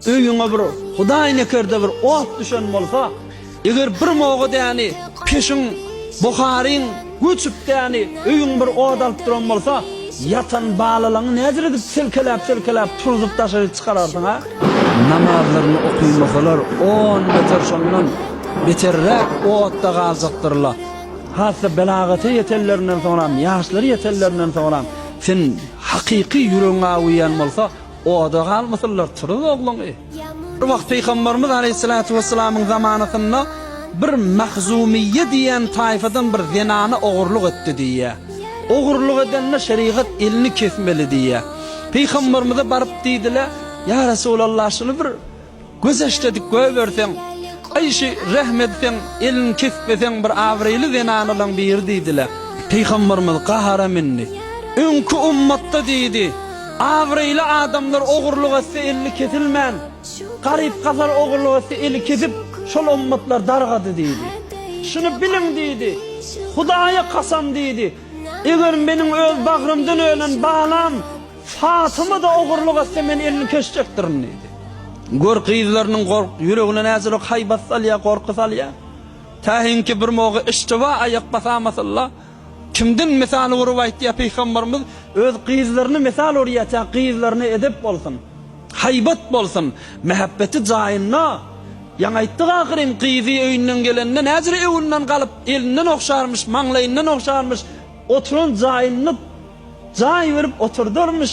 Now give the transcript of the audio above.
Öýüňe bir Hudaý nekerde bir ot düşen bolsa, eger bir moga däni peşiň, buharyň, göçüp däni öýüň bir ot alyp duran bolsa, ýatan balalaňy näder edip selkeläp-selkeläp turzup daşaryk çykararsyň, a? Namazlaryny okymasalar on beter şondan beterräk otda galjakdyrla. Hassa belagata ýetenlerinden soňram, ýaşlary ýetenlerinden soňram sen hakyky ýüregiň aw iýen bolsa, Oda galmasynlar, turuz ogluňy. Bir wagt Pygambarymyz Aleýhissalatu Wessalamyň zamanasynda bir Mahzumyýe diýen taýfadan bir zenana ogurlyk etdi diýýär. Ogurlyk edende şerigat elini kesmeli diýýär. Pygambarymyza baryp diýdiler, Ýa Resulallah, şuny bir Göz eşdedik göberseň, Aýşe rehm edseň, elin kesbeseň bir abraýly zenanalaň biri diýdiler. Pygamberimiz gahara mündi. Öňki ummatda diýdi, abraýly adamlar ogurlyk etse elli kesilmän, garyp gasar ogurlyk etse eli kesip, şol ummatlar dargady diýdi. Şuny biliň diýdi, Hudaýa kasam diýdi, eger meniň öz bagrymdan ölen balam, Fatyma-da ogurlyk etse, men elini kesjekdirin, diýdi. Gör, gyzlarynyň gork, ýüregine näçelik haýbat salýar, gorky salýar. Täsinki bir moga işdibä aýak basamasynla, kimden mysal urup aýtýar pygamberimiz, öz gyzlaryny mysal urýar, tä gyzlaryna edep bolsun. Haýbat bolsun, mähebbeti jaýynda. Ýaňy aýtdyk ahyryn, gyzy öýünden gelende näjire öňünden galyp, elinden ogşarmyş, maňlaýyndan ogşarmyş, oturan jaýyny jaý berip oturdarmyş.